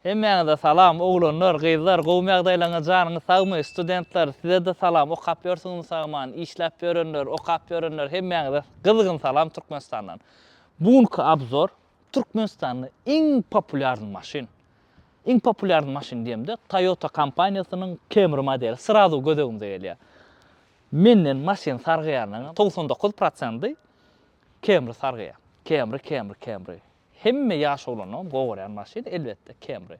Hemmäňize salam oglanlar gyzlar gowymy ýagdaýlaryňyz janyňyz sagmy studentler sizede salam okap ýörsüňizmi sagman işläp ýörenler okap ýörenler hemmäňize gyzgyn salam Türkmenistandan bu günki abzor Türkmenistanda iň populýarny maşyn iň populýarny maşyn diýemde Toyota kompaniýasynyň Camry modeli srazu göz öňüňize gelýär menden maşyn sargýanlaryň togsan dokuz prosenty Camry sargýar Camry Camry Camry. Hemme ýaş oglanlaryň gowy görýän maşyny, elbetde, Camry.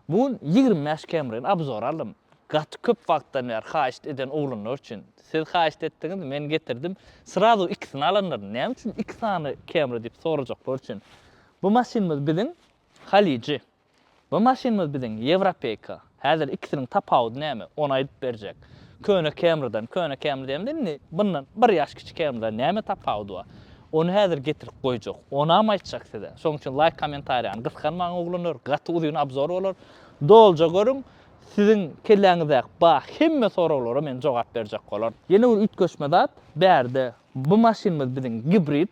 Bu gün ýigrimi bäş Camryny obzora aldym. Gaty köp wagtdan bäri haýyşt eden oglanlar üçin. Siz haýyşt etdiňiz, men getirdim. Srazu ikisini alanlar, näme üçin iki sany Camry diýip sorajaklar üçin. Bu maşynymyz biziň Halyjy. Bu maşynymyz biziň Ýewropeýka. Häzir ikisiniň tapawudy näme? Ony aýdyp berjek. Köne Camry-dan, köne Camry diýemde indi, bundan bir ýaş kiçi Camry-dan näme tapawudy bar? Ony häzir getirip goýjak. Onam aýtjak size. Şonuň üçin laýk kommentariýany gysganmaň oglanlar, gaty uzyn obzor bolar. Doluja görüň. Siziň kelläňizdäki bar hemme soraglara men jogap berjek bolan. Ýene bir üýtgeşme zat, bärde bu maşynymyz biziň gibrid,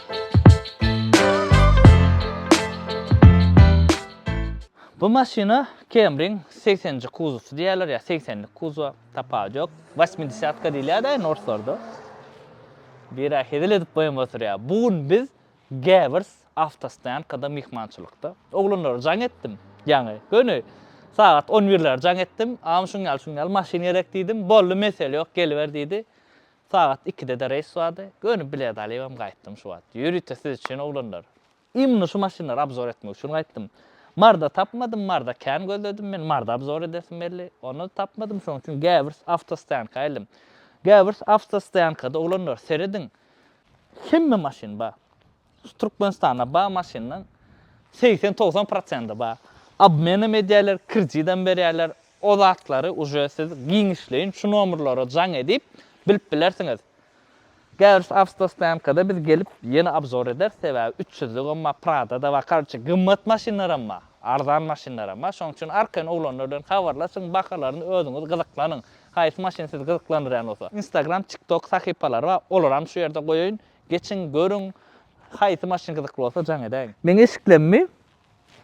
Bu maşyna Camry-iň segsenji kuzowsy diýýärler ýa segsenlik kuzow, tapawudy ýok. Wasmidesýatka diýilýär-de indi orslarda. Biri-ä hezil edip boýun oturýar. Bu gün biz Gewers awtostoýankada myhmançylykda. Oglanlara jaň etdim. Ýaňy, göni sagat on birlere jaň etdim. Agam şuň ýaly-şuň ýaly maşyn gerek diýdim. Boldy, mesele ýok, geliber diýdi. Sagat ikide-de reýs bardy. Gönüp bilet alybam gaýtdym şu wagt. Ýörite siz üçin oglanlar. Imni şu maşynlary obzor etmek üçin gaýtdym. Marda tapmadym, marda kän gözledim men, marda obzor edesim geldi. Onda-da tapmadym, şonuň üçin Gäwürs awtostoýanka geldym. Gäwürs awtostoýankada oglanlar, serediň, hemme maşyn bar. Türkmenistanda bar maşynyň segsen togsan prosendi bar. Obmenem edýärler, kredidem berýärler. O zatlary uje siz giňişleýin şu nomerlere jaň edip bilip bilersiňiz. Käbir awtostoýankada biz gelip ýene obzor ederis, sebäbi üç ýüzlügem bar, Prada-da bar, karoçe gymmat maşynlaram bar, arzan maşynlaram bar. Şonuň üçin arkaýyn oglanlar bilen habarlaşyň, bahalaryny özüňiz gyzyklanyň. Haýsy maşyn sizi gyzyklandyrýan bolsa. Instagram, TikTok sahypalary bar, olaram şu ýerde goýaýyn. Geçiň, görüň, haýsy maşyn gyzykly bolsa jaň edäýiň. Meň eşiklemmi?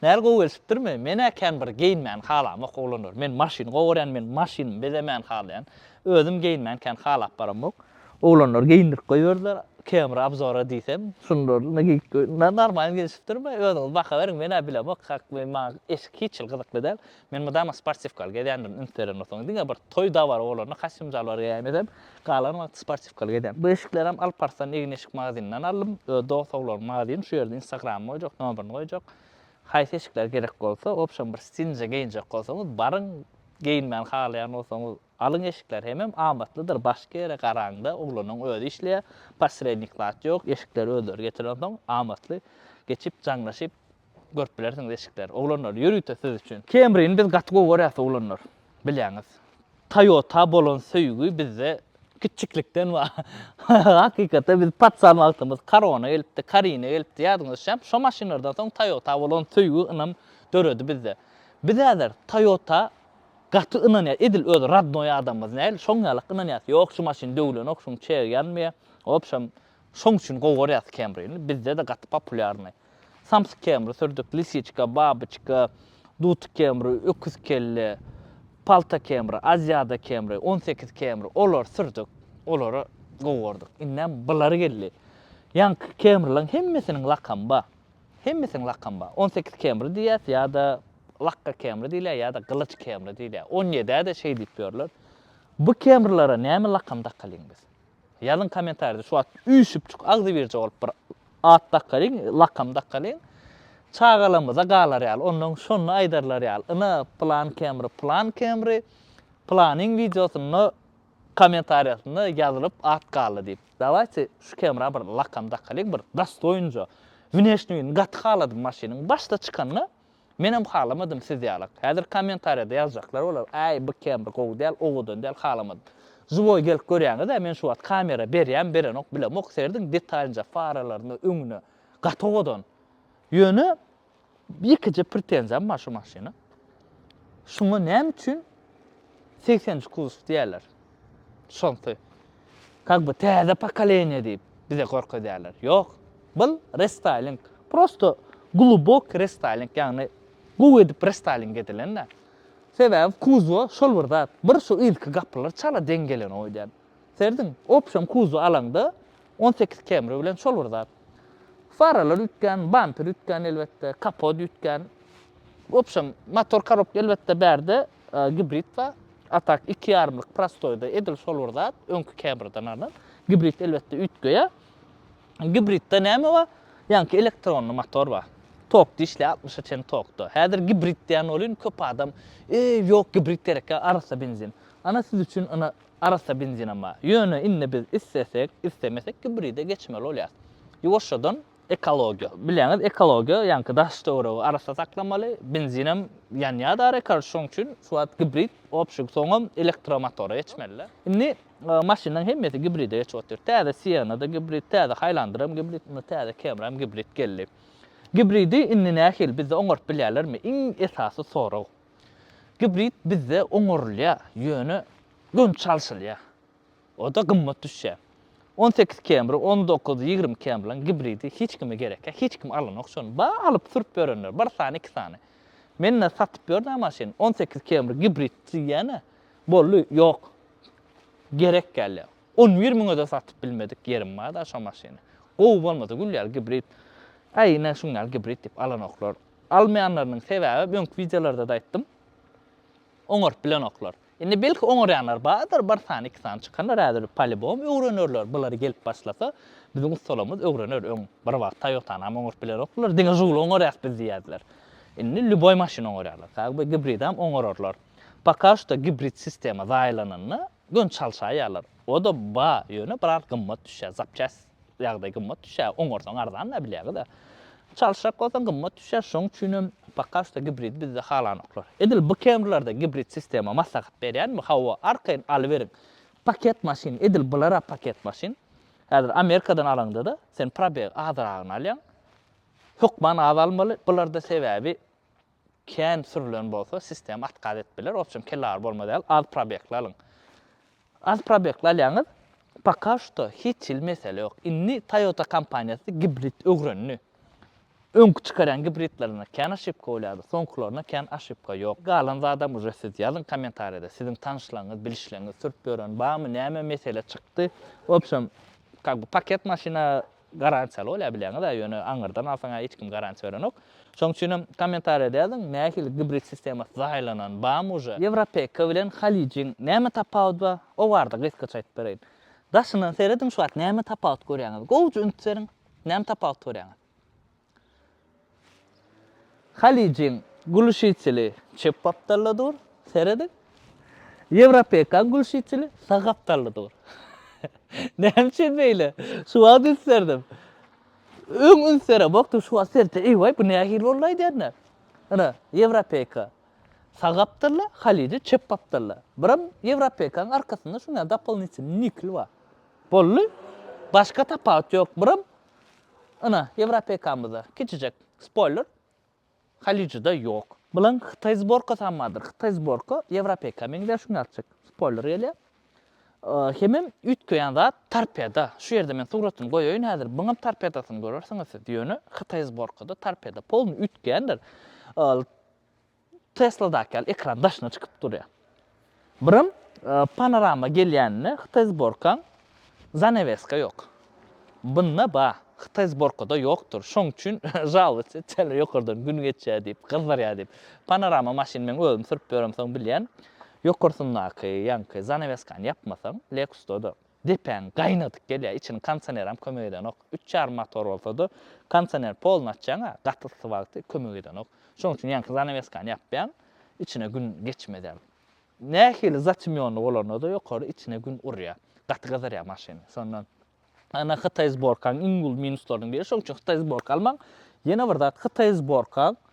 Näl gowy gelşipdirmi? Men-ä kän bir geýinmäni halamok oglanlar. Men maşyny gowy görýän, men maşynymy bezemäni halaýan. Özüm geýinmäni kän halap baramok. Oglanlar geýindirip goýberdiler. Camera obzora diýsem, şunlaryny geýip goýdum. Normalny gelşipdirmi? Özüňiz baha beriň, men-ä bilemok. Hak, maňa eşik hiç hili gyzykly däl. Men mydama sportiwkaly gezýändirin üns berenoksoň. Diňe bir toý-dabara bolanda kostýum-jalbar geýäýmesem, galan wagty sportiwkaly gezýän. Bu eşiklerem Alp Arslan egin-eşik magazynynydan aldym. Öz dost-sowlaryň magazyny, şu ýerde instagramyny goýjak, nomerini goýjak. Haýsy eşikler gerek bolsa, wobşem bir stilje geýinjek bolsaňyz, baryň, geýinmän halaýan bolsaňyz, alyň eşikler hemem amatlydyr, başky ýere garaňda, oglanyň özi işleýär, posrednik zat ýok, eşikleri özleri getirensoň, amatly geçip, jaňlaşyp, Görüp bilersiňiz eşikleri. Oglanlar ýörite siz üçin. Camry-ni biz gaty gowy görýäs oglanlar. Bilýäňiz. Toyota bolan söýgi bizde kiçjiklikden bar. Hakykatdan biz patsan wagtymyz Corona gelipdi, Karina gelipdi, ýadyňyza şem. Şo maşynlardan soň Toyota bolan söýgi, ynam döredi bizde. Biz häzir Toyota gaty ynanýas. Edil öz rodnoý adamymyz näl, şoň ýalak ynanýas. Ýok, şu maşyn döwlenok, şuň çegi ýanmaýar. Wobşem, şoň üçin gowy görýäs Camry-ni. Bizde-de gaty populýarnyý. Samsyk kemri, sürdük, lisiçka, babyçka, dutuk kemri, öküz kelle, palta kemri, aziada kemri, on sekiz kemri, olary sürdük, olary gowardyk. Indem bulary geldi. Ýaňky kemrileriň hemmesiniň lakamy bar. Hemmesiniň lakamy bar. On sekiz kemri diýýäs ýa-da lakga kemri diýilýär ýa-da gylyç kemri diýilýär. On ýedä-de şeý diýip ýörler. Bu kemrilere näme lakam dakalyň biz? Ýazyň komentarýada şu wagt üýşüpjik agzybirje bolup bir at dakalyň lakam dakalyň çagalarymyza galar ýaly onnoň şony aýdarlar ýaly ine pylan kemri pylan kemri pylanyň wideosynda komentarýasynda ýazylyp at galdy diýip dawaýte şu kemra bir lakam dakalyň bir dostoýnja wneşniýini gaty haladym maşynyň başda çykanda Menem halamadym siz ýalak. Häzir kommentariýada ýazjaklar bolar, äý bu kemri gowy däl, owadan däl halamadym. Žiwoý gelip görýäňizä men şu wagt kamera berýämi berenok bilemok serediň detalinja faralaryna öňüne gaty owadan. Ýöne ýekeje pretenziýam bar şu maşyna. Şuňa näme üçin segsen üç kuzov diýýärler. Şonsy. Kak by täze pokoleniýe diýip bize görkezýärler. Ýok. Bul restaýling. Prosto glubok restaýling, ýagny gowy edip restaýling edilen-dä. Sebäbi kuzowa şol bir zat, bir şu yzky gapylar çala deň gelen oýdan. Serediň, opşam kuzow alaňda on sekiz Camry bilen şol bir zat. Faralar üýtgän, bamper üýtgän elbetde, kapot üýtgän. Opşam motor korobka elbetde bärde Gibrid we Atak iki ýarymlyk prostoýda edil şol bir zat, öňki käbirden alan. Gibrid elbetde üýtgeýä. Gibridde näme bar? Ýaňky elektronly motor bar. Tok dişli 60-a çen tokda. Häzir gibrid diýen bolyn köp adam, eý ýok gibrid gerekýä arassa benzin. Ana siz üçin ina arassa benzinam bar. Ýöne indi biz islesek, islemesek gibride geçmeli bolýas. Ýuwaşjadan Ekologiýa. Bilýäňiz, ekologiýa, ýaňky daş-töweregi arassa saklamaly, benzinem ýanýar da rekord, şonuň üçin şu wagt gibrid obşig, soňam elektromotora geçmelidä. Indi maşynlaryň hemmesi gibride geçip otyr. Täze Sienna-da gibrid, täze Haýlanderam gibrid, indi täze Camry-am gibrid geldi. Gibridi indi nähili bizde oňaryp bilýärlermi? Iň esasy sorag. Gibrid bizde oňarylýar, ýöne göni çalşylýar. O-da gymmat düşýär. On sekiz kemri, on dokuz, ýigrimi kemriň gibridi hiç kime gerekýä, hiç kim alanok şony. Bar alyp sürüp ýörenler, bir sany, iki sany. Men-ä satyp ýörün-ä maşyn, on sekiz kemri gibrid diýýän-ä, boldy, ýok. Gerek däl-ä. On bir müňe-de satyp bilmedik ýerim bar-da şo maşyny. Gowy bolmasa gülýär gibrid. Äý, ine şuň ýaly gibrid diýip alanoklar. Almaýanlarynyň sebäbem öňki wideolarda-da aýtdym, oňaryp bilenoklar. Indi belki oňarýanlar bardyr, bir sany, iki sany çykanlar häzir polibom öwrenerler, bulary gelip başlasa, biziň ussalarymyz öwrener, öň bir wagt Toyotanam oňaryp bilenokdylar, diňe Žugly oňarýas biz diýýärdiler. Indi lýuboý maşyny oňarýarlar, kagyby gibridem oňararlar. Poka şto gibrid sistema zaýalananda göni çalşaýýarlar, o-da bar, ýöne biraz gymmat düşýär, zapçäst. ýagdaý gymmat düşýär, oňarsaň arzan-da bilýäňiz-ä. Çalyşjak bolsaň gymmat düşýär, şonuň üçin hem poka şto gibridi bizde halanoklar. Edil bu Camry-larda gibrid sistema maslahat berýänmi? Hawa, arkaýyn alyberiň. Paket maşyn, edil bular-a paket maşyn. Häzir Amerikadan alaňda-da, sen probegi azragyny alýaň. Hökman az almaly, bularda sebäbi, Kän sürülen bolsa sistema atkaz edip biler, opçem kelle agyr bolma däl, az probegli alyň. Az probegli alýaňyz, poka şuto hiç hili mesele ýok. Indi Toyota kompaniýasy gibrid ögrendi. Öňki çykarýan gibridlerinde kän oşipka bolýardy, soňkylarynda kän oşipka ýok. Galan zadam uje siz ýazyň kommentariýada, siziň tanyşlaryňyz, bilişleňiz sürüp ýören barmy, näme mesele çykdy. Opçem kak bu paket maşyna Garantiýaly bolýar bilýäňiz-ä, ýöne aňyrdan alsaň-a hiç kim garantiýa berenok. Şoň üçinem kommentariýada ýazyň, nähili gibrid sistemasy saýlanan, barmy uje? Ýewropeka bilen Halyjyň näme tapawudy bar? O barada gysgaça aýdyp bereýin. Daşyndan serediň şu wagt näme tapawut görýäňiz? Gowja üns beriň, näme tapawut görýäňiz? Halyjyň gluşiteli çep gapdalda dur, serediň. Ýewropekaň gluşiteli sag gapdalda dur. Näme üçin beýle? Şu wagt ünslerdim. Öň üns beremokdym, şu wagt seredip, eý-waý, bu nähili boldy aýdanda? Ine, ýewropeka sag gapdalda, halyjy çep gapdalda. Birem ýewropekaň arkasynda şuňa dopolinitel nikl bar. Boldy. Başga tapawut ýok. Birem Ynha, Ýewropekamyzda kiçijek spoýler Halyjyda ýok. Bilen Hytaý zborkasam bardyr. Hytaý zborka Ýewropeka meňzär şunda azjyk spoýler gelýär. Hemem üýtgeýän zat torpeda. Şu ýerde men suratyny goýaýyn häzir. Buňam torpedasyny görersiňiz siz. Ýöne Hytaý zborkada torpeda polny üýtgeýändir. Tesladaky ýaly ekran daşyna çykyp durýar. Birem panorama gelýänine hytaý zborkaň zaneweska ýok. Bunda ba, hytaý zborkada ýokdur. Şoň üçin žalowatsi etýärler ýokardan gün geçýär diýip, gyzdyrýar diýip. Panorama maşyn meň özüm sürüp ýöremsoň bilýän. Ýokarsyndaky ýaňky zaneweskany ýapmasaň Lexusda-da. Depäň gaýnadyp gelýär, içini kondisioneram kömek edenok. Üç ýarym motor bolsady, kondisioner polny açýaň-a, gaty yssy wagty kömek edenok. Şonuň üçin ýaňky zanaweskany ýapýaň, içine gün geçmezem. Nähili zatemýonly bolanda-da ýokary içine gün urýar. Gaty gyzarýar maşyn. Şondan Ana hytaý zborkaň iň uly minuslarynyň biri. Şonuň üçin hytaý zborka almaň. Ýene bir zat, hytaý zborkaň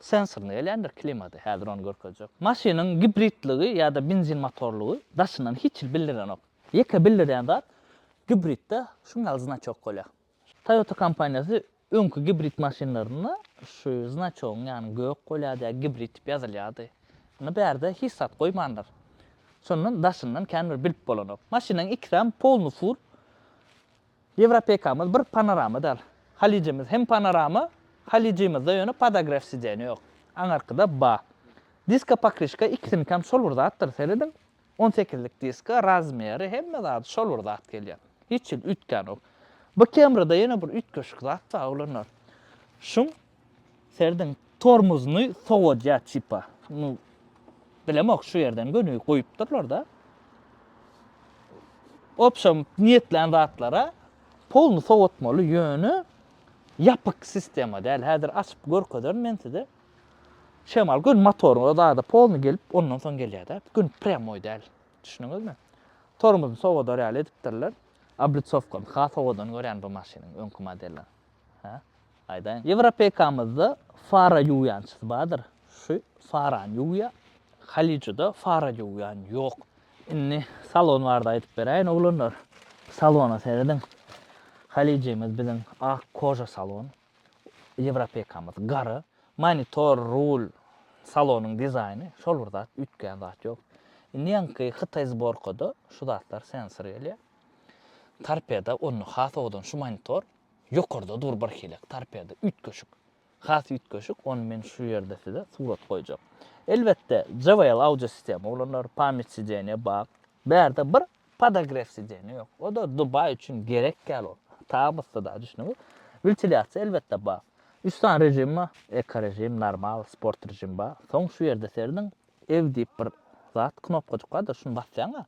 Sensorly gelýändir klimata häzir ony görkezjek. Maşynyň gibridligi ýa-da benzin motorlygy daşyndan hiç hili bildirenok. Ýeke bildirýän zat gibridde şuň ýaly znaçok bolýar. Toyota kompaniýasy öňki gibrid maşynlarynda şu znaçogyň ýany gök bolýardy ýa gibrid diýip ýazylýardy. Indi bärde hiç zat goýmandyr. Şondan daşyndan kän bir bilip bolanok. Maşynyň ikisem polny fur. Ýewropekamyz bir panorama dal. Halyjymyz hem panorama, halyjymyzda ýöne podogref sidenýa ýok. Aňarkyda ba. Diska pokryşka ikisinikäm şol bir zatdyr, serediň. On sekizlik diska, razmeri, hemme zady şol bir zat gelýär. Hiç hili üýtgänok. Bu kemrada ýene bir üýtgeşik zat bar oglanlar. Şum Serdiň tormuzyny sowadýa tipa. Nu bilemok şu ýerden göni goýupdyrlar da. Opşam niýetlän zatlara polny sowatmaly ýöne ýapyk sistema däl. Häzir açyp görkezerin men size. Şemal gün motoryň özada polny gelip ondan soň gelýär da. Gün prýamoý däl. Düşündiňizmi? Tormuzyny sowadar ýaly edipdirler. Oblitsowkany has owadan görýän bu maşynyň öňki modelini. Hä? Aýdaýyň, Ýewropeýkamyzda fara ýuwýançysy bardyr. Şu farany ýuwýa. Halyçyda fara ýuwýan ýok. Indi salon barada aýdyp beräýin, oglanlar. Salona serediň. Halyçymyz biziň ak koža salon. Ýewropeýkamyz gara. Monitor, rul, salonyň dizaýny şol bir zat, üýtgän zat ýok. Indi ýaňky hytaý zborkada şu zatlar sensor gelýär. Torpeda onda has owadan şu monitor. Ýokarda dur bir helek torpeda, üýtgeşik. Has üýtgeşik, ony men şu ýerde size surat goýjak. Elbetde, JBL audio sistema ulanylýar, pamýat sideniýa bak. Bärde bir podogref sideniýa ýok. O-da Dubaý üçin gerek däl ol. Tabyssyda, düşdüňiz? Wentilyasiýa elbetde bar. Üç sany režim bar, eko režim, normal, sport režim bar. Soň şu ýerde serediň, ew diýip bir zat, knopkajyk bardyr, şuny basýaň-a.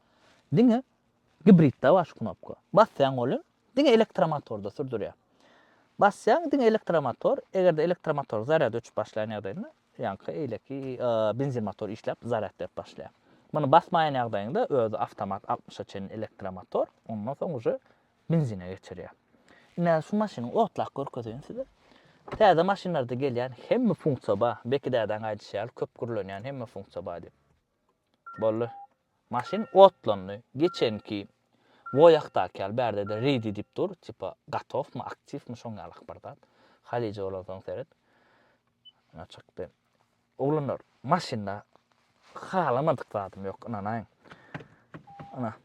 Diňe gibridde bar şu knopka. Basýaň ol hem Diňe elektromotorda sürdürýär. Basýaň diňe elektromotor, eger-de elektromotor zarýad öçüp başlaýan ýagdaýynda, ýaňky eýleki benzin motor işläp zarýad berip başlaýar. Muny basmaýan ýagdaýyňda özi awtomat altmyşa çenli elektromotor, ondan soň uje benzine geçirýär. Indi hä şu maşyny otlap görkezeýin size. Täze maşynlarda gelýän hemme funksiýa bar. Beki dädäň aýdyşy ýaly köp gürlenýän hemme funksiýa bar diýip. Boldy. Maşyn otlandy. Geçenki Woýakdaky ýaly bärde-de ready diýip dur, tipa gatowmy, aktiwmi şoň ýalyk bir zat. Halije bolansoň seret. Ýa çykdy. Oglanlar, maşynda halamadyk zadym ýok, ynanaýyň. Ana,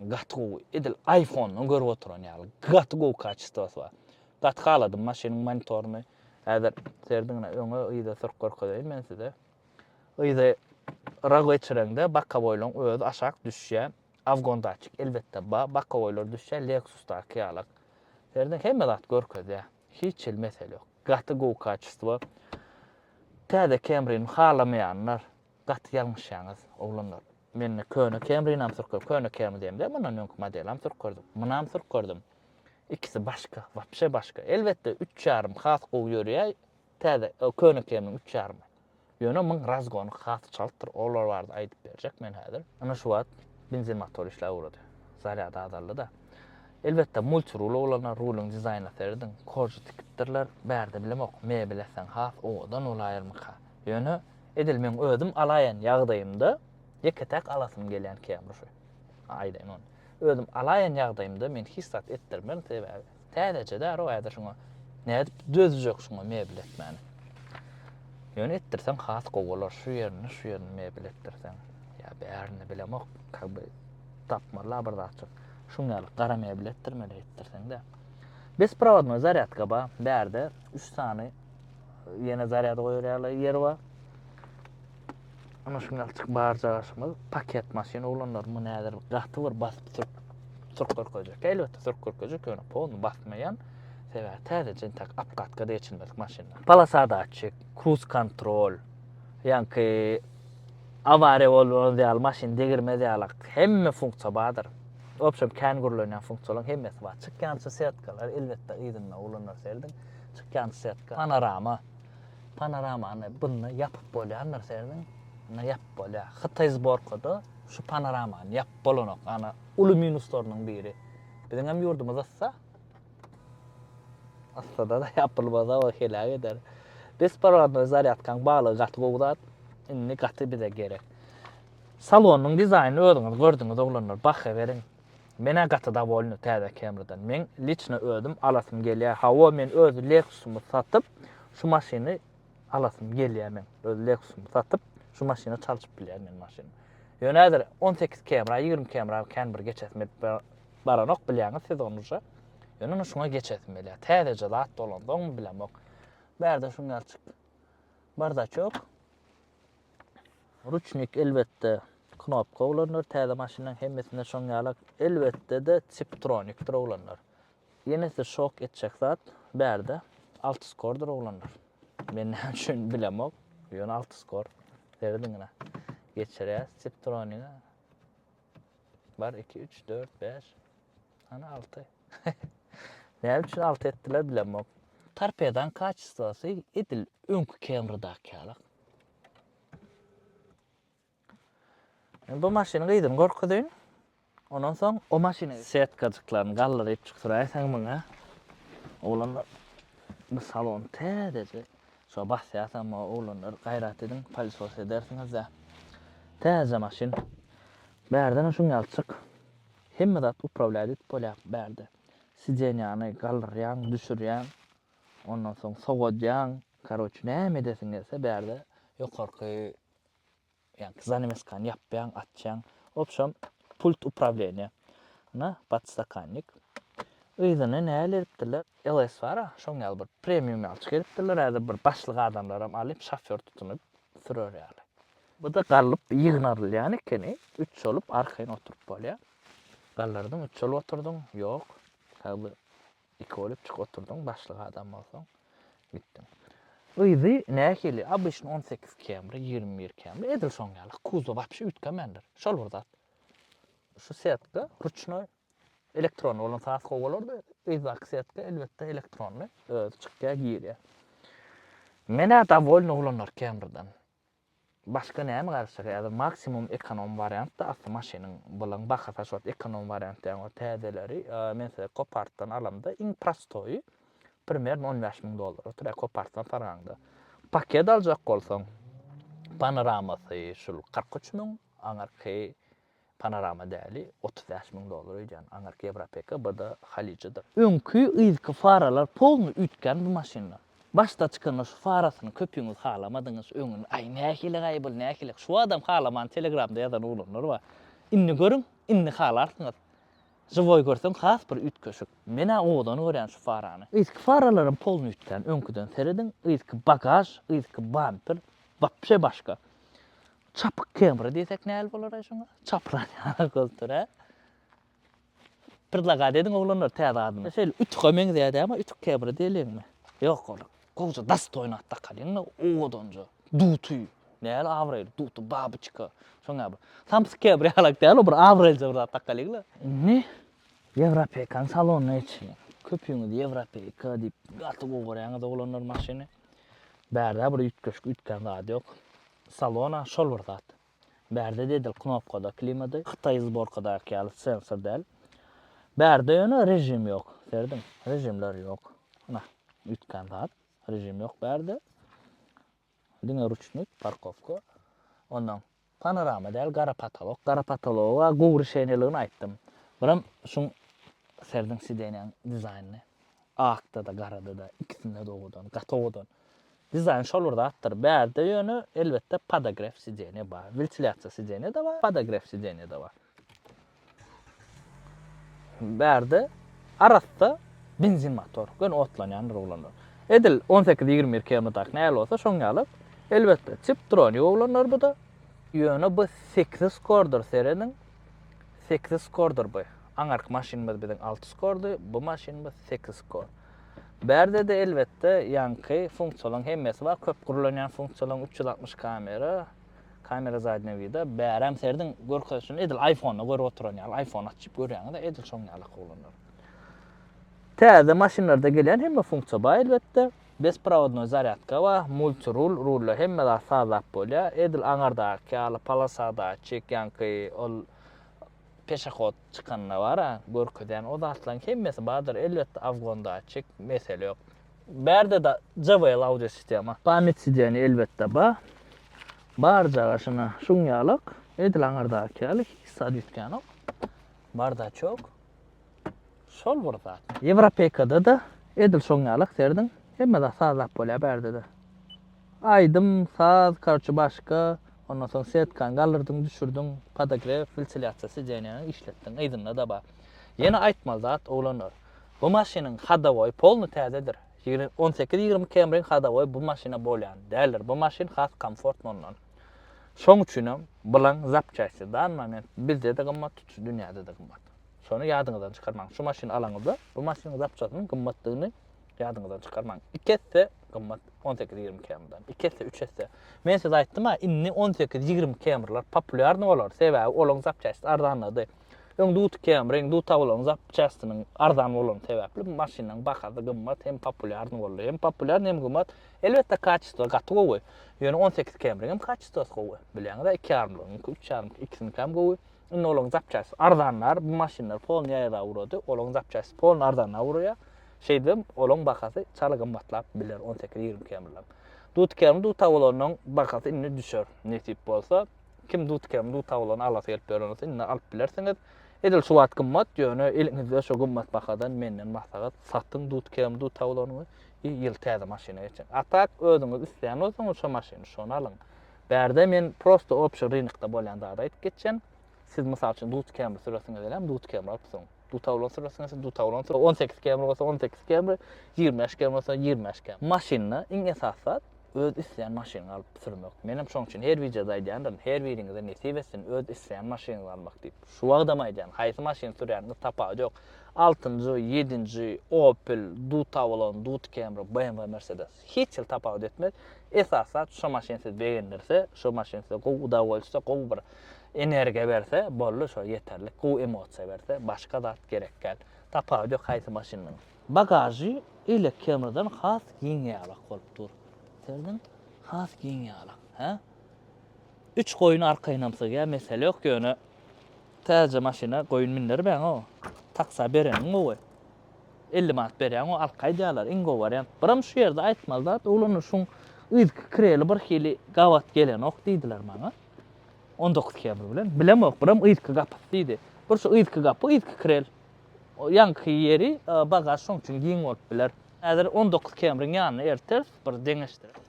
Gaty gowy, edil iPhone-dan görüp oturan ýaly. Gaty gowy kaçistwasy bar. Gaty haladym maşynyň monitoryny. Häzir serediňine öňe yza sürüp görkezeýin men size. Yza ra geçireňde bokowoýlaň özi aşak düşýär. Awgon datçik elbetde bar. Bokowoýlar düşýär Lexus-daky ýalak. Serediň hemme zat görkezýär. Hiç hili mesele ýok. Gaty gowy kaçistwa. Täze Camry-ni halamaýanlar gaty ýalňyşýaňyz oglanlar. Men köne Camrynam sürküp, köne Camry diýemde, mundan öňki modelam sürkürdim. Munam sürkürdim. Ikisi başga, wapşe başga. Elbetde, üç ýarym has gowy ýörýär, täze, köne Camryň üç ýarymy. Ýöne muň razgony has çaltdyr, olar barada aýdyp berjek men häzir. Ine şu wagt benzin motor işläp ugrady. Zarýady azaldy-da. Elbetde, multirul bolanda rulyň dizaýnyna serediň, korji tikipdirler, bärde bilemok, mebel etseň has owadan bolaýarmyka. Ýöne. Edil meň özüm alaýan ýagdaýymda ýeke-täk alasym gelýän kemruşy. Aýdaýyn ony. Özüm alaýan ýagdaýymda men hiç zat etdirmerin, sebäbi täzeje däri-ow häzir şuňa nädip dözjek şuňa mebel etmäne. Ýöne etdirseň has gowy bolar, şu ýerini, şu ýerini mebel etdirseň. Ýa bärini bilemok, kag bir tapmaly-la bir zatjyk. Şuň ýaly gara mebel etdirmeli etdirseň-de. Besprovodnoý zarýadka bar, bärde üç sany Ýene zarýad goýar ýaly ýer bar. Ana şu ýalçyk barja gaşymyz paket maşyn oglanlar muny häzir gaty bir basyp sürk sürk görkezjek. Elbetde sürk görkezjek ýöne polny basmaýan. Sebäbi täze jentak apkatka da geçilmedik maşynlar. Palasada açyk, cruise control, ýanki awariýa bolan ýaly maşyn degirmez ýaly hemme funksiýa bardyr. Obşem kän gürlenýän funksiýalaryň hemmesi bar. Çykýança setkalar elbetde yzynda oglanlar serediň. Çykýan setka, panorama. Panoramany bunda ýapyp bolýandyr serediň. Bunda ýapyp bolýar. Hytaý zborkada şu panoramany ýapyp bolanok. Ana, uly minuslarynyň biri. Biziňem ýurdumyz yssa. Yssada-da ýapylmasa o heläk eder. Besparwodnoý zarýadkaň baglygy gaty gowy zat. Indi gaty bize gerek. Salonyň dizaýnyny özüňiz gördüňiz oglanlar, baha beriň. Men-ä gaty dowolny täze Camry-dan. Meň liçno özüm alasym gelýär. Hawa, men öz Lexus-ymy satyp, şu maşyny alasym gelýär meň. Öz Lexus-ymy satyp, şu maşyna çalşyp bilýän men maşyn. Ýöne häzir on sekiz Camry-a, ýigrimi Camry-a kän bir geçesim gelip baranok, bilýäňiz siz ony uje. Ýöne indi şuňa geçesim gelýär. Täzeje zat dolansoňmy bilemok. Bärde şuňňalçyk bardaçok. Ruçnik elbetde knopka oglanlar täze maşynlaň hemmesinde şoň ýala elbetde-de tiptronikdir oglanlar. Ýenesi şok etjek zat bärde altiskordyr oglanlar. Men näme üçin bilemok. Ýöne altiskor. Serediňine. Geçirýäs tiptroniga. Bar 2 3 4 5 Ana 6. Näme üçin 6 etdiler bilemok. Torpedan kaçistwasy edil öňki Camry-daky ýalak. Indi bu maşyny gyzyny gorkuzyn. Ondan soň o maşyny setkajyklaryny galdyryp çykdyraýsaň muňa. Oglanlar bu salon täzeje. Şo basýarsaň o oglanlar gaýrat ediň, palisos edersiňiz-de. Täzeje maşyn. Bärden şuň ýaly çyk. Hemme zat uprawlýat edip bolýar bärde. Sidenýany galdyrýaň, düşürýäň. Ondan soň sowadýaň. Karoç näme edesiň gelse bärde ýokarky ýa zanemiskany ýapýaň, açýaň. Wobşem pult uprawleniýa. Ana podstakannik. Yzyna näle edipdirler? LS bar-a, şoň ýaly bir premium ýaly çykarypdyrlar. Häzir bir başlyk adamlaram alyp, şofýor tutunyp sürer ýaly. Bu-da gallyp ýygnarylýan ekeni. Üç şolup arkaýyn oturyp bolýar. Gallardyň, üç şolup oturdyň. Ýok. Häzir Iki bolup çyk oturdyň başlyk adam bolsaň gitdiň. Yzy nähili abyşny on sekiz kemri ýigrimi bir kemri edil şoň ýaly kuzow wapşe üýtgemendir şol bir zat şu setka ruçnoý elektron bolan saz gowy bolardy yzdaky setka elbetde elektronly özi çykýa girýä menä dowolny ulanarkemrden Başga näme garyşar häzir maksimum ekonom wariantda asly maşynyň bylaň bahasy aşyp ekonom wariant däň o täzeleri men size kopartdan alamda iň prostoýy primerno on bäş müň dollar otyr kopartdan saraňda paket aljak bolsaň panoramasy şul kyrk üç müň aňyrky Panorama däli otuz bäş müň dollar öýdýän aňyrky Ýewropeka BD halyjydyr. Öňki yzky faralar polny üýtgän bu maşynda. Başda çykanda şu farasyny köpüňiz halamadyňyz öňüni aý nähili gaýbul nähili şu adam halamany telegramda ýazan oglanlar bar. Indi görüň indi halarsyňyz. Žiwoý görseň has bir üýtgeşik. Menä owadan görýän şu farany. Yzky faralaram polny üýtgän öňküden serediň yzky bagaž yzky bamper wapşe başga. Çapyk kebri diýsek näl bolar-aý şuňa? Çapran ýaly göz tur, hä? Pirzaga diýdiň oglanlar täze adyna. Şeýle ütüge meňzeýä-dä, emma ütük kebri diýeliňmi? Ýok ol. Gowja dastoýnat dakalyň-da owadanja. Duty. Näl abraýly duty, babyçka. Şoň ýaly bir. Samsyk kebri ýalak däl ol, bir abraýlyja bir zat dakalyň-la. Indi Ýewropeýkanyň salonyna geçeliň. Köpüňiz Ýewropeýka diýip gaty gowy görýäňiz oglanlar maşyny. Bärde bir üýtgeşik üýtgän zat ýok. Salon-a şol bir zat. Bärde dedil knopkada klimady, hytaý zborkadaky ýaly sensor däl. Bärde ýöne režim ýok. Serediň, režimler ýok. Ana, üýtgän zat. Režim ýok bärde. Diňe ruçnik, parkowka. Ondan Panorama däl gara potolok. Gara potologa gowy rişeniýeligini aýtdym. Biram şuň serdiň sidenýaň dizaýnyny. Akda-da, garada-da, ikisinde-de owadan, gaty owadan. Dizaýn şol bir zatdyr. Bärde ýöne, elbetde, podogref sidenýe bar. Wentilýasiýa sidenýe-de bar, podogref sidenýe-de bar. Bärde arassa benzin motor, göni otlanýandyr oglanlar. Edil on sekiz, ýigrimi bir km-däki nähili bolsa, şoň ýaly. Elbetde, tiptronik oglanlar bu-da. Ýöne bu sekiz skordyr, serediň. Sekiz skordyr bu. Aňyrky maşynymyz biziň alty skordy, bu maşynymyz sekiz skor. Bärde-de, elbetde, ýaňky funksiýalaryň hemmesi bar, köp gürlenýän funksiýalaryň üç ýüz altmyş kamera, Kamera zadnýa wida. Bärem serediň görkezişini edil iPhone-da görüp oturan ýaly. iPhone açyp görýäňiz-ä edil şoň ýaly akylly olanlar. Täze maşynlarda gelýän hemme funksiýa bar elbetde. Besprovodnoý zarýadka bar, multirul, rulda hemme zat sazlap bolýar. Edil aňyrdaky ýaly polosadaky, ýaňky ol peşahod Çykanda bar-a, görkezýän o zatlaryň hemmesi bardyr. Elbetde, awgondatçik, mesele ýok. Bärde-de JBL audiosistema. Pamýat sidenýe elbetde bar. Barjaga şuna şuň ýalak, edil aňyrdaky ýaly hiç zat üýtgänok. Bardaçok. Şol bir zat. Ýewropeýkada-da edil şoň ýalak, serediň, hemme zat sazlap bolýar bärde-de. Aýdym, saz, korçe başga, ondan soň setkany galdyrdyň, düşürdiň, podogref, wiltsilýasiýa sideniýany işletdiň, yzynda-da bar. Ýene aýtmaly zat, oglanlar, bu maşynyň hadowoýy polny täzedir. Ýigrimi, on sekiz, ýigrimi Camry-ň hadowoýy bu maşyna bolýan däldir, bu maşyn has komfortny ondan. Şoň üçinem bulaň zapçasti dan moment bizde-de gymmat, tutuş dünýäde-de gymmat. Şony ýadyňyzdan çykarmaň. Şu maşyny alaňyzda, bu maşynyň zapçasynyň gymmatdygyny Ýadyňyzdan çykarmaň. Iki esse gymmat on sekiz ýigrimi km-den. Iki esse, üç esse. Men size aýtdym-a, indi on sekiz ýigrimi km-ler populýarny bolar, sebäbi olaryň zapçastisi arzanlady. Öň duty km-iň, duty awlaryň zapçastiniň arzan bolany sebäpli bu maşynlaryň bahasy gymmat hem populýarny boldy. Hem populýarny, hem gymmat. Elbetde, kaçesto gaty gowy. Ýöne on sekiz km-iň hem kaçestosy gowy. Bilýäňiz-ä, iki ýarymlygyňky, üç ýarymky ikisinikäm gowy. Indi olaryň zapçastisi arzanlar, bu maşynlar polnyýa ýaza ugrady, olaryň zapçastisi polny arzana ugraýar. Şeýdibem, olaryň bahasy çal gymmatlap biler, on sekiz, ýigrimi kemleriň. Dutkermi dutawulanyň bahasy indi düşer, nesip bolsa. Kim dutkermi dutawulany alasy gelip ýören bolsa, indi alyp bilersiňiz. Edil şu wagt gymmat, ýöne eliňizde şu gymmat bahadan menden maslahat, satyň dutkermi dutawulanyňy i ýyl täze maşyna geçiň. A tak, özüňiz isleýän bolsaňyz şu maşyny, şony alyň. Bärde men prosta obşi rynokda bolýan zady aýdyp geçýän. Siz, mysal üçin, dutkermi süresiňiz welem, dutkermi alypsyň. Dutawlan sürmesin ýa-da dutawlan sürmesin. 18 km bolsa 18 km, 25 km bolsa 25 km. Maşynda iň esasy zat öz isleýän maşynyňy alyp sürmek. Menem şoň üçin her wideoda aýdýandyryn, her biriňize nesip etsin öz isleýän maşynyňyzy almak diýip. Şu wagtam aýdýan, haýsy maşyny sürýäniňiz tapawudy ýok. Altynjy, ýedinji, Opel, dutawlan, dut kemri, BMW, Mercedes. hiç hil tapawut etmez. Esas zat şo maşyn sizi begendirse, şo maşyn size gowy uda bolsa, gowy bir energiýa berse, boldy şo ýeterlik. Gowy emosiýa berse, başga zat gerek däl. Tapawudy ýok haýsy maşyndan. Bagažy elek Camrydan has giň ýalak bolup dur. Serdiň? Has giň ýalak. Hä? Üç goýun arkaýynam sygýar, mesele ýok, ýöne täze maşyna goýun mindirmäň-ow. Taksa bereniň gowy. Elli manat berýäň-ow alka aýdýarlar, iň gowy wariant. Biram şu ýerde aýtmaly zat, ulanyşyň yzky kreli birhili gabat gelenok diýdiler maňa. On dokuz kebr bilen. Bilemok, biram yzky gapysy diýdi. Bir şu yzky gapy, yzky krel. Ýaňky ýeri, bagaž şoň üçin giň bolup biler. Häzir on dokuz kemriň ýanyna elteris, bir deňeşdireris.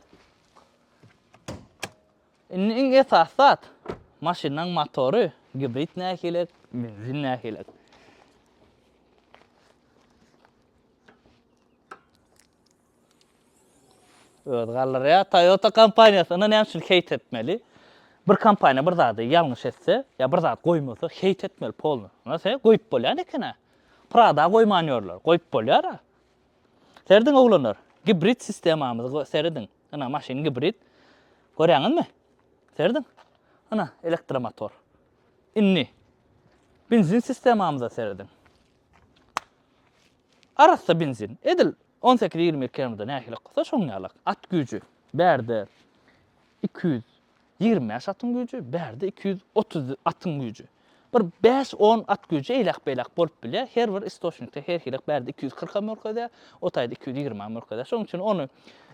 Indi iň esasy zat, maşynyň motory, gibrid nähilek, benzin nähilek. Özi galdyrýar. Toyota kompaniýasy indi näme üçin heýt etmeli? Bir kompaniýa bir zady ýalňyş etse, ýa bir zat goýmasa, heýt etmeli polny. Ýa sen goýup bolýan eken-ä. Prada goýman ýörler, goýup bolýar-a. Serediň oglanlar, gibrid sistemamyzy serediň. Ina maşyn gibrid. Görýäňizmi? Serediň. Ina elektromotor. Indi benzin sistemamyza serediň. Arassa benzin. Edil 18-20 km nähili bolsa şoň ýaly. At güýji bärde 200 Ýigrimi bäş atyň güýji, bärde iki ýüz otuz atyň güýji. Bir bäş-on at güýji eýläk-beýläk bolup bilýär. Her bir istoçnikde her hili bärde iki ýüz kyrkam görkezýär, o taýda iki ýüz ýigrimem görkezýär. Şonuň üçin ony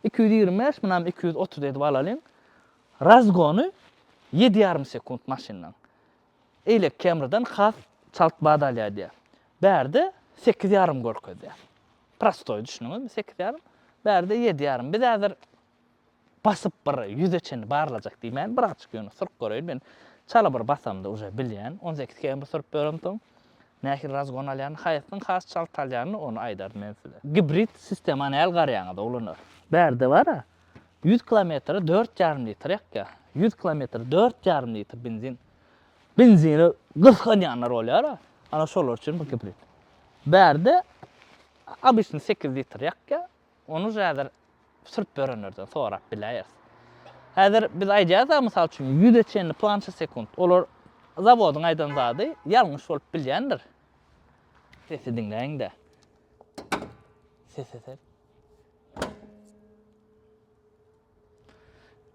iki ýüz ýigrimi bäş, munam iki ýüz otuz edip alalyň. Razgony ýedi ýarym sekunt maşyndan. Eýlek Camry-dan has çalt bat alýar diýýär. Bärde sekiz ýarym görkezýär. Prostoý düşündiňizmi, sekiz ýarym. Bärde ýedi ýarym. Biz häzir Basyp bir ýüze çenli barlajak diýmän, birazajyk ýöne syryp göreýin. Men çala bir basamda uje bilýän. On sekiz km syryp böremsoň, nähili razgon alýanyny, haýsysynyň has çalt alýanyny ony aýdaryn men size. Gibrid sistemany äl garýaňyz oglanlar. Bärde bar-a, ýüz kilometre dört ýarym litr ýakýar. Ýüz kilometre dört ýarym litr benzin. Benzini gysganýanlar bolýar-a, ana şolar üçin bu gibrid. Bärde obýçny sekiz litr ýakýar, Ony häzir sürüp ýörenlerden sorap biläýeris. Häzir biz aýdýarys-a, mysal üçin, ýüze çenli plança sekunt. Olar zawodyň aýdan zady ýalňyş bolup bilýändir. Sesi diňläýiň-dä. Sese ser.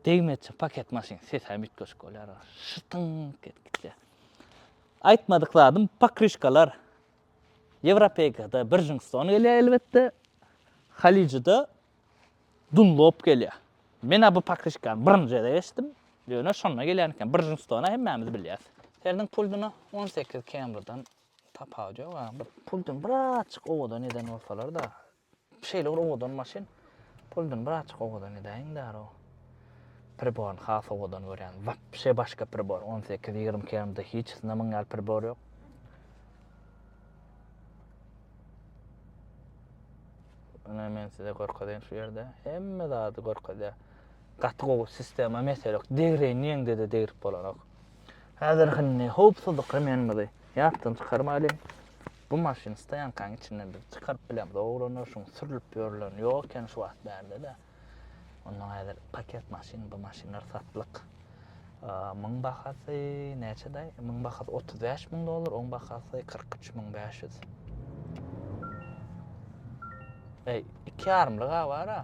Degmezçe paket maşyn sesem üýtgeşik bolýar. Şytyňk edip gitýär. Aýtmadyk zadym pokryşkalar. Ýewropeýkada Birjingstone gelýär elbetde, Halyjyda Dunlop gelýär. Men-ä bu pakişkany birinji gezek eşitdim. Ýöne şonda gelýän eken. Birjingstone-a hemmämiz bilýäs. Seriniň puldyna on sekiz Camry-dan tapawudy ýok-a. Puldyny birazjyk owadan eden bolsalar-da, Şeýle bir owadan maşyn. Puldan birazjyk owadan edäýiň daroo. Priboryny has owadan görýän. Wapşe başga pribor. On sekiz, ýigrimi iki MD hiç sinde muň ýaly pribor ýok. Ine men size görkezeýin şu ýerde. Hemme zady görkezýär. Gaty gowy sistema mesele ýok. Degreýin diýeňde-de degrip bolanok. Häzir hynny howpsuzlyk remenimizi ýatdan çykarmaýlyň. Bu maşyn stoýankaň içinden biz çykaryp bilemz oglanlar şuň sürlüp ýörlen ýok eken şu wagt bärde-de. Onda häzir paket maşyn bu maşynlar satlyk. Muň bahasy näçedaý? Muň bahasy 35 müň dollar, oň bahasy 43 müň 500. Eý, iki ýarymlyga bar-a.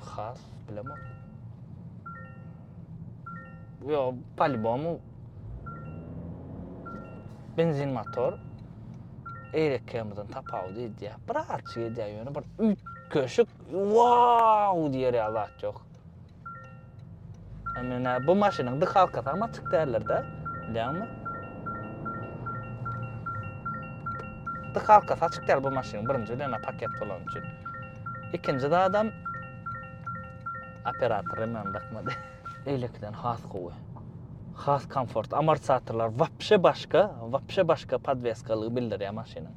Has bilemok. Yo, palibom benzin motor eýrekemizden tapawut edýär. Bir açy edýär, ýöne bir üýt köşük, wow diýer ýa zat ýok. Menä bu maşynyň dik halka tam açyk däldir-de, bilýärmi? Dik halka açyk däl bu maşynyň birinji bilen paket bolan üçin. İkinci de adam Operator hem ony dakmady. Beýlekiden has gowy. Has komfort. Amortizatorlar wapşe başga, wapşe başga podweskalygy bildirýär maşynyň.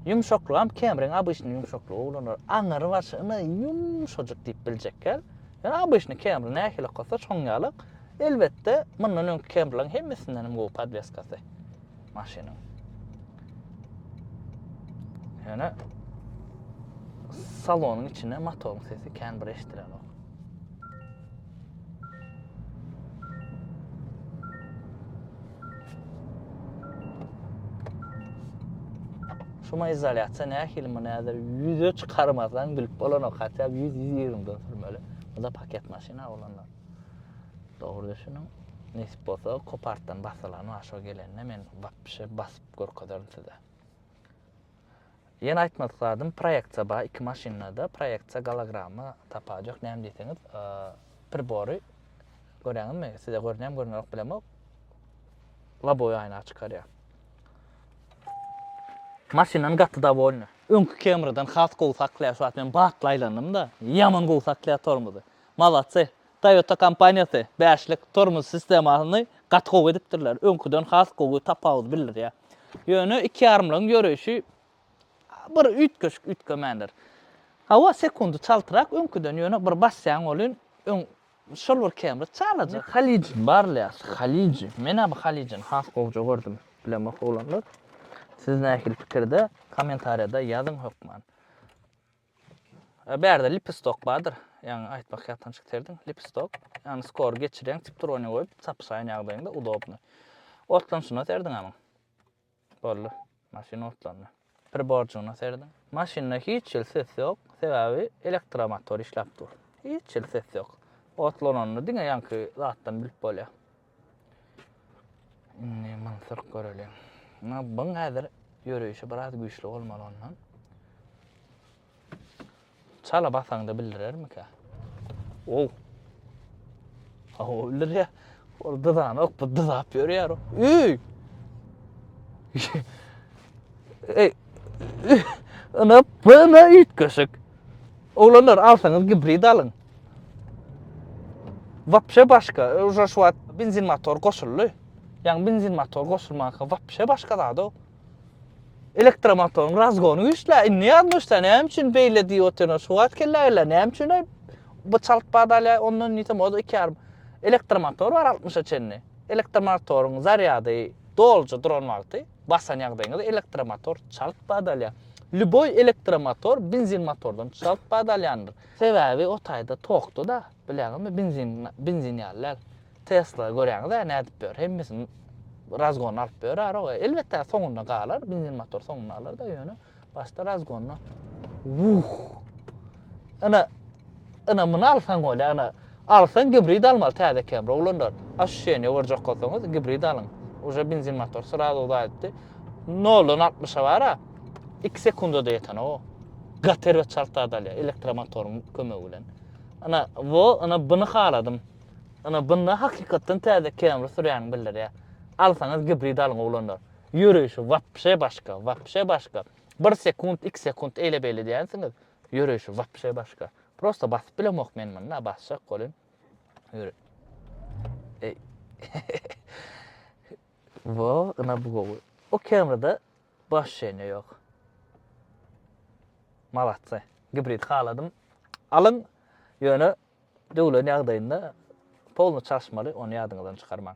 Ýumşaklygam Camry-ň obyçny ýumşaklygy ulanar. Aňyry bar şyny ýumşajyk diýip biljekgel. Ýöne obyçny Camry nähili okasaç şoň ýalyk. Elbetde, mundan öňki Camry-laryň hemmesinden hem gowy podweskasy. maşynyň. Ýöne salonyň içinde motoryň sesi kän bir eşidilenok. Şuma izolýasiýa nähili muny häzir ýüze çykarmasaň bilip bolanok, hatda 100-120 dan sürmeli. Bu da paket maşyna olanlar. Dogry düşüniň. Nesip bolsa kopartdan basylan bar şo gelende men wapşe basyp görkezerin size. Ýene aýtmadyk zadym proýeksiýa bar iki maşyndada proýeksiýa gologramma tapajak näme diýseňiz pribory göräňizmi size görünýärmi görünýärok bilemok lobowy aýna çykarýar. Maşyndan gaty dowolny. Öňki Camrydan has gowy saklaýar şu wagt men batly aýlandymda ýaman gowy saklaýar tormozy. Malatsy Toyota kompaniýasy bäşlik tormoz sistemasyny gaty gowy edipdirler, öňküden has gowy tapawudy bildirýär. Ýöne iki ýarymlygyň ýöreýşi bir üýtgeşik üýtgemändir. Hawa, sekundy çaltrak öňküden, ýöne bir basýaň welin öň şol bir kemri çalajak. Halyjin barlaýas, Halyjin. Men-ä bu Halyjini has gowja gördüm. Bilemok oglanlar. Siz nähili pikirde, kommentariýada ýazyň hökman. Bärde lipistok bardyr. Ýaňy aýtmak ýatdan çykterdiň. Lipistok. Ýagny skor geçirýäň, tiptrony goýup, çapyşaýan ýagdaýyňda udobny. Otlanşyna serdiň amyň. Boldy. Maşyn otlandy. Priborjygyna serdiň. Maşynda hiç hil ses ýok, sebäbi elektromotor işläp dur. Hiç hil ses ýok. Otlananyny diňe ýaňky zatdan bilip bolýar. Indi mantyrk göreliň. Ýa buň häzir ýöreýşi biraz güýçli bolmaly ondan. Çala basaňda bildirermikä? Ow. Hawa bildir ya. Ol dyzan ok bu dyzap ýörýär. Üy! Ey. Ana bana üýtgeşik. Oglanlar alsaňyz gibrid alyň. Wapşe başga, uje şu wagt benzin motor goşuldy. Ýagny benzin motor goşulmanka wapşe başga zada. Elektromotoryň razgony güýçlä, indi ýazmyşda näme üçin beýle diýip otyna şu wagt kelle geldi, näme üçin aý bu çalt bad alýa, ondan diýsem o da iki ýarym. Elektromotor bar altmyşa çenli. Elektromotoryň zarýady doluja duran wagty basan ýagdaýyňyzda elektromotor çalt bad alýa. Lýuboý elektromotor benzin motordan çalt bad alýandyr. Sebäbi o taýda tokda-da, bilýäňizmi, benzin, benzin ýaly däl. Tesla göräňiz-ä nädip ýör, hemmesini razgony alyp ýörärog. Elbetde soňunda galar, benzin motor soňunda galar-da, ýöne başda razgonda. Wuh! Ina, ina muny alsaň bolýa, ina Alsaň gibrid almaly täze Camry oglanlar. Ощущение görjek bolsaňyz gibrid alyň. Uje benzin motor srazu uzaýypdy. Noldan altmyşa bara iki sekundada ýetenok o. Gaty erbet çalt zat alýar elektromotoryň kömegi bilen. Ina wo ina buny haladym. Ina bunda hakykatdan täze Camry sürýäňi bildirýär. Alsaňyz gibrid alyň oglanlar. Ýöreýşi wapşe başga, wapşe başga. Bir sekunt, iki sekunt eýle-beýle diýänsiňiz. Ýöreýşi wapşe başga. Prosta basyp bilemok men muny, basjak bolyn. Ýöre. Eý. Wo, ina bu gowy. O kamera-da baş şeýne ýok. Malatsa. Gibrid haladym. Alyň. Ýöne döwlen ýagdaýynda polny çalşmaly, ony ýadyňyzdan çykarmaň.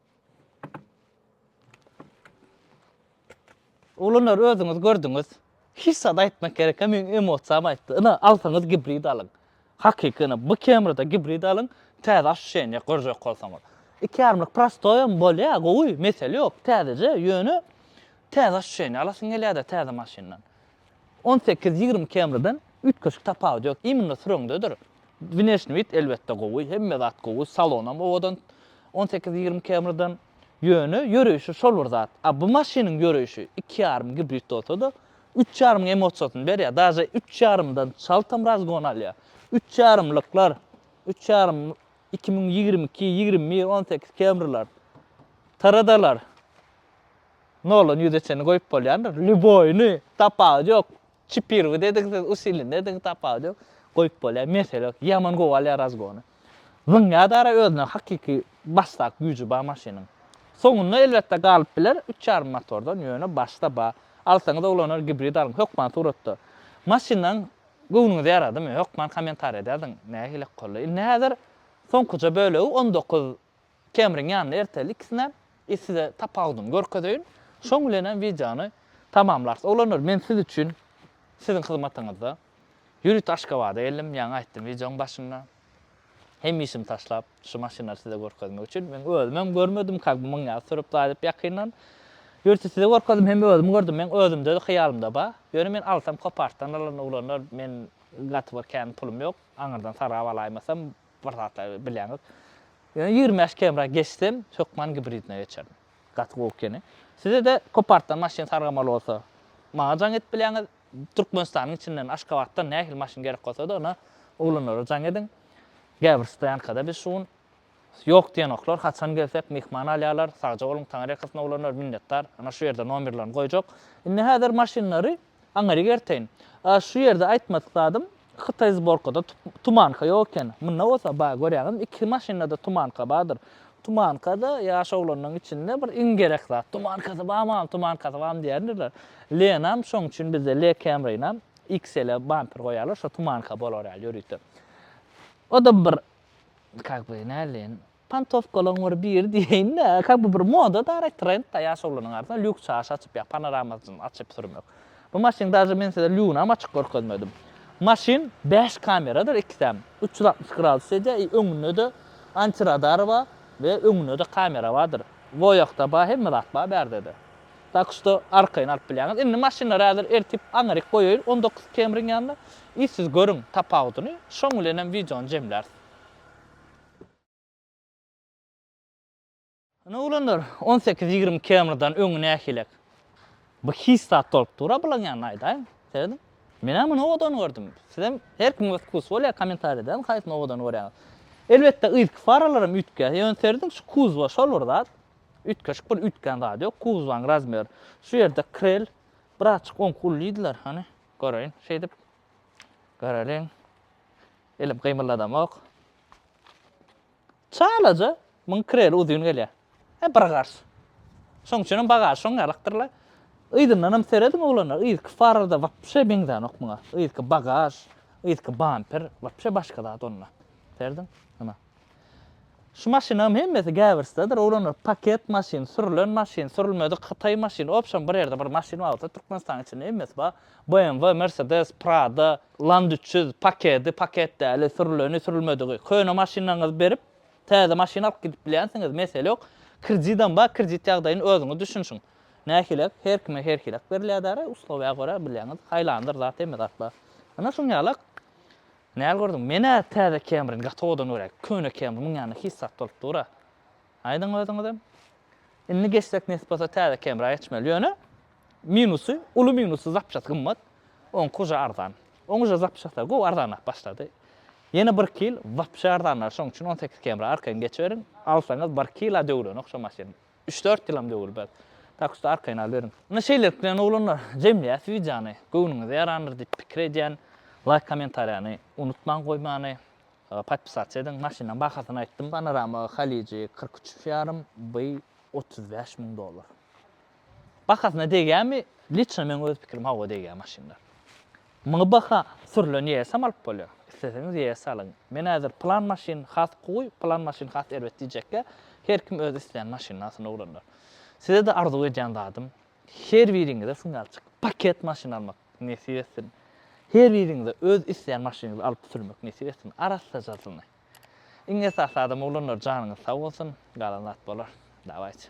Oglanlar özüňiz gördüňiz. Hiç zat aýtmak gerek hem meň emosiýam aýtdy. Ina alsaňyz gibrid alyň. Hakyky ina bu kemrada gibrid alyň, täze aşuşenýa görjek bolsaňyz. Iki ýarymlyk prostoýam bolýar, gowy, mesele ýok, täzeje, ýöne täze aşuşenýa alasyň gelýärde täze maşyndan. On sekiz ýigrimi kemriden üýtgeşik tapawudy ýok. Imенно süreňdedir. Wneşniý wid elbetde gowy, hemme zat gowy, salonam owadan on sekiz ýigrimi kemriden. Ýöne ýöreýşi şol bir zat. A bu maşynyň ýöreýşi iki ýarym gibrid bolsada üç ýarymyň emosiýasyny berýär. Daže üç ýarymdan çaltam razgon alýar. Üç ýarymlyklar, üç ýarym iki müň ýigrimi iki, ýigrimi bir, on sekiz kemriler, taradalar. Nolan ýüze çenli goýup bolýandyr. Lýuboýyny, tapawudy ýok. Çipirwi dedik siz, usili dedik, tapawudy ýok. Goýup bolýar, mesele ýok. Ýaman gowy alýar razgony. Zyňýar-da ara özüne hakyky başdak güýji bar maşynyň. Soňunda elbetde galyp biler üç ýarym motordan, ýöne başda bar. Alsaňyz oglanlar gibrid alyň, hökman suratda. Maşynlaň göwnüňize ýaradymy, hökman kommentariýada ýazyň. Nähili ykgally. Indi häzir soňkuja bölegi on dokuz Kemriň ýanyna erteli ikisine i size tapawudyny görkezeýin. Şoň bilenem wideony tamamlarys. Oglanlar men siz üçin siziň hyzmatyňyzda ýörite Aşgabada geldim. Ýaňy aýtdym wideoň başynda. Hemme işimi taşlap şu maşynlary size görkezmek üçin. Men özümem görmedim kak bu myň ýaly sürüp daýdyp ýakyndan. Ýörite size görkezdim hemme özüm gördüm. Meň özümde hyýalymda ba. Ýöne men alsam kopartdan alaryn oglanlar. Men gaty bir kän pulum ýok. Aňyrdan sargap alaýmasam. Bir zatlary bileňok. Ýöne ýigrimi bäş km geçsem, hökman gibridine geçerin. Gaty gowy ekeni. Size-de kopartdan maşyn sargamaly bolsa, maňa jaň edip bileňiz. Türkmenistanyň içinden, Aşgabatdan nähili maşyn gerek bolsa-da, ony oglanlara jaň ediň. Gäbir stoýankada biz şu gün Ýok diýenoklar, haçan gelsek myhman alýarlar. Sagja boluň, Taňyrýakasyn oglanlar, minnetdar. Ana şu ýerde nomerlerini goýjak. Indi häzir maşynlary Aňyr ýerteýin. A şu ýerde aýtmadyk zadym, hytaý zborkada tumanka ýok eken. Munda bolsa bar, görýäňizmi, iki maşynada tumanka bardyr. Tumanka-da ýaş oglanlaryň içinde bir iň gerek zat. Tumankasy bar mam, tumankasy bar diýendirler. Lenam şoň üçin bizde Le Camrynam XL-e bamper goýýarlar, şo tumanka bolar ýaly ýörite. O-da bir, kak by, näleýin, Pantowkalaň bir biri diýeýin-de, kak bu bir moda dara, trend-da, ýaş oglanyň arasynda lýuks çaşy açyp, ýa panoramasyny açyp sürmek. Bu maşynyň daže men size lýunam açyk görkezmedim. Maşyn bäş kameradyr ikisem, üç ýüz altmyş gradus edýär i öňünde-de antiradar bar we öňünde-de kamera bardyr. Voyakda bar, hemme zat bar bärdede. Tak şto arkaýyn alyp bilýäňiz. Indi maşynlary häzir ertip aňryk goýaýyn on dokuz Camry-ň ýanyna i siz görüň tapawudyny, şoň bilenem wideony jemläris. Ine oglanlar, on sekiz-ýigrimi km-den öň nähilek bir hiç zat dolup dur-a bulaň ýanynda aýdaýyň. Serediň. Men-ä muny owadan gördüm. Sizem, her kimiň öz wkusy bolýar, kommentariýa edäýiň haýsyny owadan görýäňiz. Elbetde, yzky faralaram üýtgär. Ýöne serediň, şu kuzba şol bir zat. Üýtgeşik bir üýtgän zady ýok. Kuzbanyň razmeri. Şu ýerde krel birazçyk oňky ulydylar. Hany, göreýin. Şeýdip, göreliň. Elim gymyldadamok. Çalaja, muň kireli uzyn gelýär. He, bir garş. Şoň üçinem bagaž şoň ýalakdyr-la. Yzyndanam serediň, oglanlar, yzky farada wapşe meňzänok muňa. Yzky bagaž, yzky bamper, wapşe başga zat onda. Serediň, ana. Şu maşynyňam hemmesi gäwürsdedir, oglanlar, paket maşyn, sürlen maşyn, sürülmedik hytaý maşyn, obşem bir ýerde bir maşyn bar bolsa Türkmenistanyň içinde hemmesi bar, BMW, Mersedes, Prado, Land üç ýüz, pakedi, paket däli, sürüleni, sürülmedigi, köne maşynlaryňyzy berip täze maşyn alyp gidip bilýänsiňiz, mesele ýok, kredidem bar, kredit ýagdaýyny özüňiz düşünşiň, nähilek, her kime herhilek berilýär däri, uslowýa görä bilýäňiz, haýlandyr zat hemme zat bar. Ine şuň ýalak Näl gördüň? Men-ä täze Kemrin gaty owadan görýän. Köne Kemr muň ýanynda hiç zat bolup dur-a. Aýdyň özüňizem. Indi geçsek nesip bolsa täze Kemra geçmeli. Ýöne minusy, uly minusy zapçasy gymmat. Oňky uje arzan. Oň uje zapçasy-da gowy arzanlap başlady. Ýene birki ýyl wapşe arzanlar şoň üçin on sekiz Kemra arkaýyn geçiberiň. Alsaňyz birki ýyl-a döwülenok şo maşyn. Üç-dört ýylam döwülmez. Tak usta arkaýyn alyberiň. Ine şeýlelik bilen oglanlar, jemleýäs wideony. Göwnüňize ýarandyr diýip pikir edýän. Laýk kommentariýany unutmaň goýmany. Podpisasiýa ediň. Maşynyň bahasyny aýtdym. Panorama Haliji kyrk üç ýarym by otuz bäş müň dollar. Bahasyna degýämi? Liçno meň öz pikirim hawa degýär maşynlar. Muňa baka sürlen ýesem alyp bolýar. Isleseňiz ýes alyň. Men häzir plan maşyn has gowy, plan maşyn has erbet diýjekkä, her kim öz isleýän maşynasyny ugrandyr. Size-de arzuw edýän zadym, her biriňize syngalçyk paket maşyn almak nesip etsin. Her biriňize öz isleýän maşynyňyzy alyp sürmek nesip etsin, arassajasyny. Iň esasy zadam oglanlar janyňyz sag bolsun, galan zat bolar. Dawaýçy.